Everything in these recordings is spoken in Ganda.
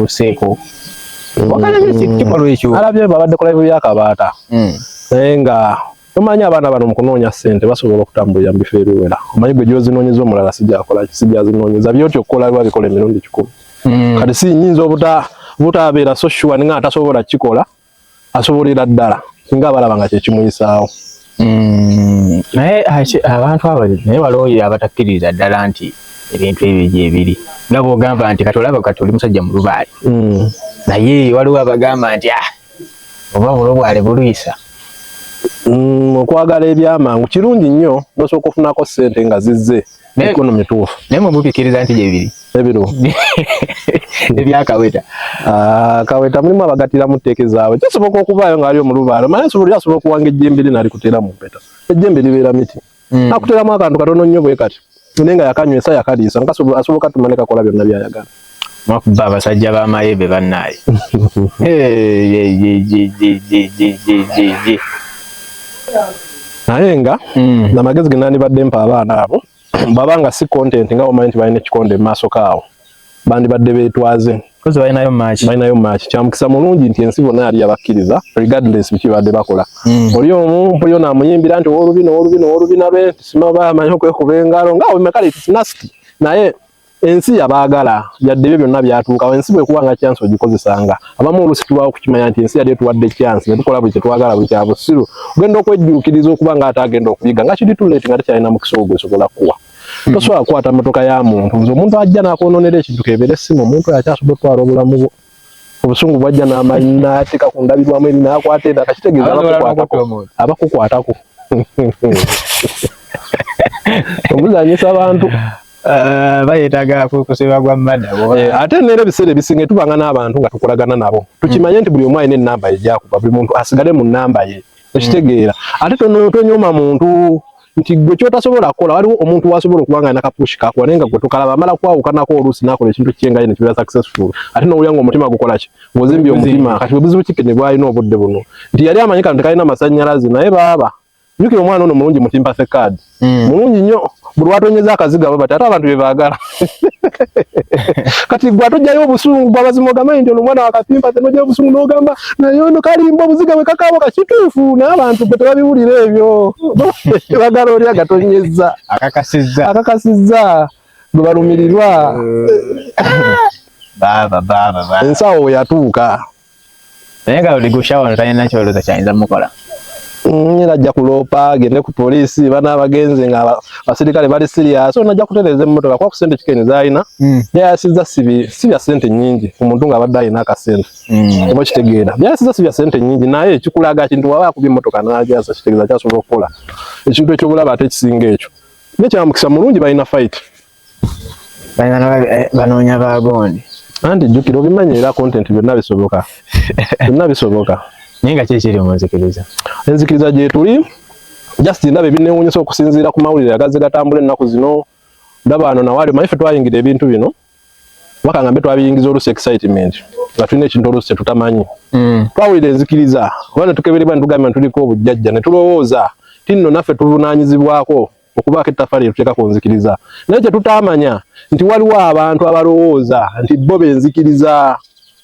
tuseeko mm. alabye babadde ku live ya kabaata mm. naye nga omanyi abaana bano mukunoonya sente basobola okutambulira mubifo ebiwera omanyi gwe gyozinoonyeza omulala sijakola sijazinoonyeza byoti okukola biba bikola emirundi kikulu mm. kati sinyinza obutabeera so sure nga atasobola kukikola asobolera ddala singa abalaba nga kyekimuyisaawo mm, naye abantu abali naye balooye abatakkiririza ddala nti ebintu ebyo gyebiri nga bwogamba nti kati olaba kati oli musajja mulubaale mm. naye waliwo abagamba nti ah, oba bulobwale bulwisa mm, okwagala ebyamangu kirungi nnyo nosooka ofunako ssente nga zizze mikono mituufu naye mwe mupikkiriza nti gyebiri ebiro ebyakaweta ah, kaweta mulimu abagatiramu tteeka ezaabwe kisoboka okubaayo nga ali omulubaalo mala nsobola yasobola okuwanga ejjembe lye nalikutera mu mpeta ejjembe libeera miti hmm. akuteramu akantu katono nnyo bwe kati naye nga yakanywesa yakaliisa asobola katuma ne kakola byonna byayagala Mwakuba abasajja ba mayebe bannaye. Naye nga mm. na magezi genani badde mpa abaana abo baba nga si content nga omanyi nti balina ekikonde mu maaso kaawo bandibadde beetwaze balinayo maaki balinayo maaki kyamukisa mulungi nti ensi bona yali yabakkiriza regardless biki badde bakola mm. oli omu mpuliyo naamuyimbira nti owolubina owolubina owolubina be tisimaba amanyi okwekuba engalo nga wemekale tisinasiti naye ensi yabaagala yadde ebyo byonna byatuukawo ensi bwekuba nga kyansi ogikozesanga abamu olusi tubawo okukimanya nti ensi yali etuwadde kyansi netukola buli kyetwagala buli kyabusiru ogenda okwejjuukiriza okuba nga ate agenda okuyiga nga kiri tuleti nga tekyalina mukisa ogwo esobola kuwa hmm. tosobola kukwata motoka ya muntu nze omuntu ajja nakwononera ekintu kebeere simu omuntu yakyasobola otwala obulamu bwo obusungu bwajja n'amanyi n'ateeka ku ndabirwamu eri n'akwata era kakitegeeza abakukwatako omuzanyisa abantu eh, bayetaga kusiba gwa mada eh, ate neera ebiseera ebisinga tubanga n'abantu nga tukolagana nabo tukimanye nti buli omu alina enamba ye gyakuba buli muntu asigale mu namba ye okitegeera ate tonyooma muntu nti gwe kyotasobola kukola waliwo omuntu wasobola okuba nga nakapushi kakuwa naye nga gwe tokalaba amala kwawukanako oluusi nakola ekintu kye nga ye nekibeera successful ate nowulira nga omutima gukola ki ng'ozimbye omutima kati bwebuzibu kike ne bwalina obudde buno nti yali amanyi kano tekalina masannyalaze naye baaba jukira omwana ono mulungi mutimpa thekaadi Mm. mulungi nnyo buli watonyeza akaziga bwe bati ate abantu be baagala kati gwe atojjayo obusungu bwabazima ogambe nti ono omwana wakapimpa te nojjayo obusungu n'ogamba naye ono kalimba obuziga bwe kakaabo kakituufu n'abantu gwe tebabiwulira ebyo bagala oli agatonyeza akakasizza akakasizza gwe balumirirwa eh. baaba baaba ensawo yatuuka naye nga odigushawo ono talina kyolooza kyayinza mukola mm, era ajja kuloopa agende ku poliisi bana abagenzi nga abasirikale bali siriyasi ono ajja kutereeza emmotoka kuba ku sente kikeni zaalina mm. byayasiza si bya sente nyingi omuntu nga abadde alina akasente mm. oba kitegeera byayasiza si bya sente nyingi naye kikulaga kintu waba akuba emmotoka nagyasa kitegeeza kyasobola okukola ekintu ekyobulaba ate ekisinga ekyo nekyamukisa mulungi balina fayiti eh, banoonya bagondi anti jjukira obimanyi era content byonna bisoboka byonna bisoboka naye nga kyekiri mu nzikiriza enzikiriza gyetuli just ndaba ebinewunyisa okusinziira ku mawulire agazze gatambula ennaku zino ndaba ano nawaali omanyi ffe twayingira ebintu bino waka ngambe twabiyingiza olusi excitement nga tulina ekintu olusi tetutamanyi mm. twawulira enzikiriza oba netukeberebwa netugambe ntuliko obujjajja netulowooza tinno naffe tuvunanyizibwako okubaako ettaffaali lye tuteeka ku nzikiriza naye kye tutaamanya nti waliwo abantu abalowooza nti bo benzikiriza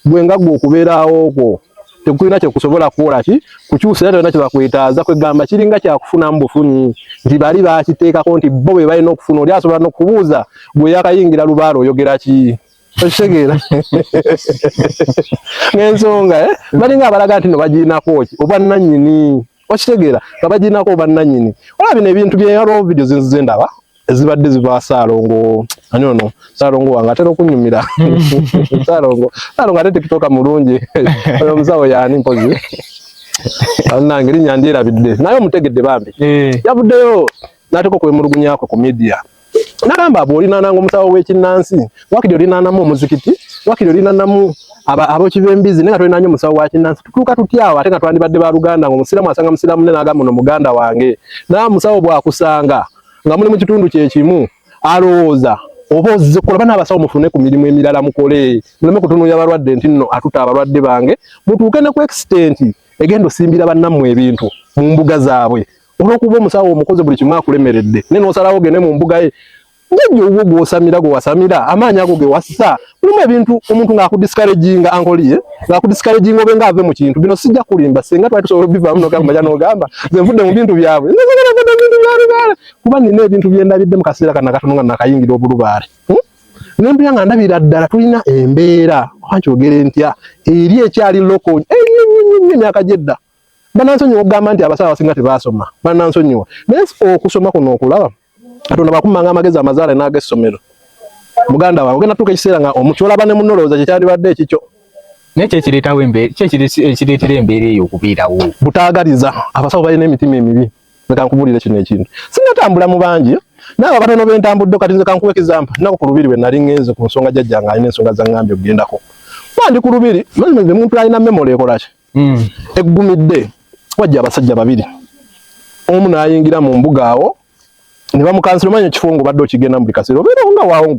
gwe nga gwe okubeerawo kwo tekulina kye kusobola kukola ki kukyusa era tolina kye bakwetaaza kwegamba kiringa kyakufunamu bufunyi nti bali bakiteekako nti bo be balina okufuna oli asobola n'okubuuza gwe yakayingira lubaala oyogera ki okitegeera n'ensonga eh? balinga abalaga nti no bagirinako ki obwannanyini okitegeera nga baginako bannanyini olaba bino ebintu byeyaloo vidio zinzize ndaba ezibadde ziva saalongo ani ono saalongo wange atera okunyumira saalongo saalongo ate tikitoka mulungi oyo omusawo yaani mpozi nange linya ndyerabidde naye omutegedde bambi eh. yavuddeyo nateka okwemulugunyakwe ku midia nagamba bwolinananga omusawo wekinansi wakiri olinanamu omuzikiti wakiri olinanamu abokibembizi naye nga tolinanyo omusawo wakinansi tutuuka tutyawo ate nga twandibadde ba luganda nga omusiramu asanga musiramu ne nagamba no muganda wange naye omusawo bwakusanga nga muli mu kitundu kyekimu alowooza oba ozze kukola bana abasawo mufune ku mirimu emirala mukole muleme kutunuya balwadde nti nno atuta abalwadde bange mutuuke ne ku extenti egenda osimbira bannammwe ebintu mu mbuga zaabwe olwokuba omusawo omukoze buli kimu akulemeredde naye nosalawo gende mu mbuga ye jajja obwo gwosamira gwewasamira amaanyi ago gewassa mulimu ebintu omuntu ng'akudiscouraginga ankoliye ng'akudiscouraginga obe ng'ave mu kintu bino sijja kulimba singa twali tusobola obivaamu nogamba ja nogamba nze nvudde mu bintu byabwe nzagala vudde mu bintu bya lubaale kuba nina ebintu bye ndabidde mu kaseera kana katono nga nakayingira obulubaale hmm? nempera nga ndabira ddala tulina embeera oba nkyogere ntya eri ekyali loko enyo nyo nyo nyo emyaka gy'edda banansonyiwa okugamba nti abasawo abasinga tebaasoma banansonyiwa naye okusoma kuno okulaba katonda bakummanga amagezi amazaale n'agessomero muganda wawe ogenda tuuka ekiseera nga omukyolaba ne munolowooza kyekyandibadde ekikyo naye kyekireetawo embeera kyekireetera embeera eyo okubeerawo butaagaliza abasawo balina emitima emibi leka nkubulire kino ekintu sinatambula mu bangi naawe abatono bentambudde kati nze kankuwa ekizampa naku ku lubiri bwe nali ngenze ku nsonga jajja nga alina ensonga za ŋŋambye okugendako bandi ku lubiri omuntu alina memola ekolaki mm. eggumidde wajja abasajja babiri omu nayingira mu mbuga awo ne bamukansira omanya ekifo nga obadde okigenda mu buli kaseera obeera nga waawo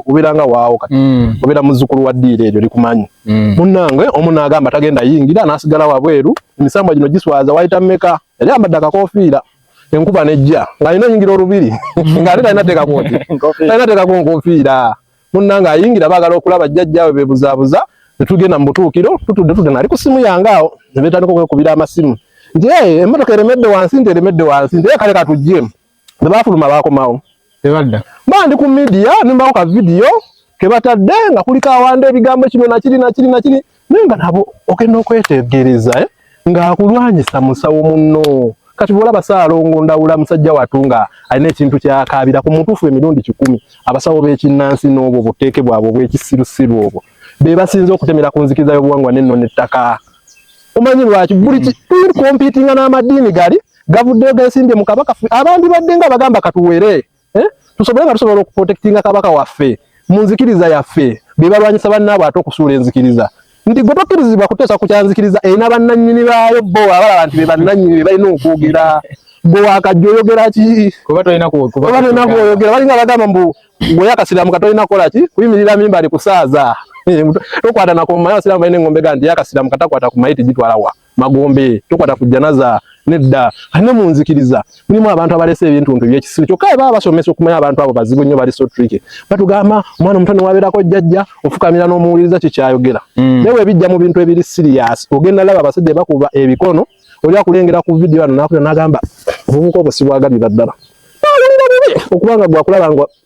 obeera nga waawo kati mm. obeera muzzukulu wa ddiiro eryo likumanyi mm. munnange omu naagamba tagenda yingira n'asigala wabweru emisambwa gino giswaza wayita meka yali ambadde akakofiira enkuba nejja ng'alina oyingira olubiri ng'ate talina teekakooti talina teekako nkofiira munnange ayingira baagala okulaba jjajjaawe beebuzaabuza ne tugenda mu butuukiro tutudde tudde nali ku simu yange awo ne beetandika okwekubira amasimu nti ee emmotoka eremedde wansi nti eremedde wansi nti ee kale katuggyemu ne baafuluma baakomawo tebadda ba ndi ku midiya ne mbawo ka vidiyo ke batadde nga kulika awanda ebigambo kino nakiri nakiri nakiri naye nga nabo ogenda okwetegereza eh? ng'akulwanyisa musawo munno kati bwolaba saalongo ndawula musajja watu nga alina ekintu kyakaabira ku mutuufu emirundi kikumi abasawo b'ekinnansi n'obwo buteeke bwabwe obw'ekisirusiru obwo be basinze okutemera ku nzikiriza y'obuwangwa n'enno n'ettaka omanyi lwaki buli tuli kompiitinga n'amadiini gali gavuddeyo gesimbye mu kabaka abantu badde nga bagamba katuwere eh? tusobole nga tusobola okuprotektinga kabaka waffe mu nzikiriza yaffe be balwanyisa bannaabwe ate okusuula enzikiriza nti gwe tokkirizibwa kuteesa ku kyanzikiriza erina bannannyini baayo bo abalaba nti be bannannyini be balina okwogera gwe wakajja oyogera ki oba tolina kwoyogera balinga bagamba mbu gwe yakasiramu katolina kukola ki kuyimirira mimba ali kusaaza tokwata nakumaye abasiramu balina engombe ga nti yakasiramu katakwata ku mayiti gitwala wa magombe tukwata ku janaza nedda kati ne mu nzikiriza mulimu abantu abalese ebintuntu byekisiru kyokka baba basomesa okumanya abantu abo bazibu nnyo bali so tricky batugamba omwana omuto newabeerako jjajja ofukamira n'omuwuliriza kye kyayogera mm. naye webijja mu bintu ebiri siriyasi ogenda laba abasajja bakuba ebikono oli akulengera ku vidiyo ano nakuya nagamba obuvuka obwo sibwagalira ddala nawulira bubi okubanga gwakulaba nga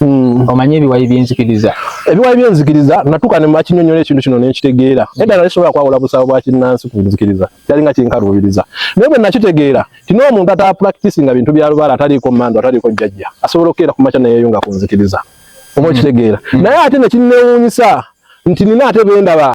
Mm. omanyi ebiwayi byenzikiriza ebiwayi byenzikiriza natuka nemakinyonyola ekintu kino nenkitegeera mm. edala nesobola kwawula busabo bwa kinnansi ku nzikiriza kyali nga kinkaluubiriza naye bwe nakitegeera tino omuntu ata practice nga bintu bya lubaala ataliiko mando ataliiko jjajja asobola okukeera ku makya neyeyunga ku nzikiriza oba mm. okitegeera naye ate nekinnewuunyisa nti nina ate bendaba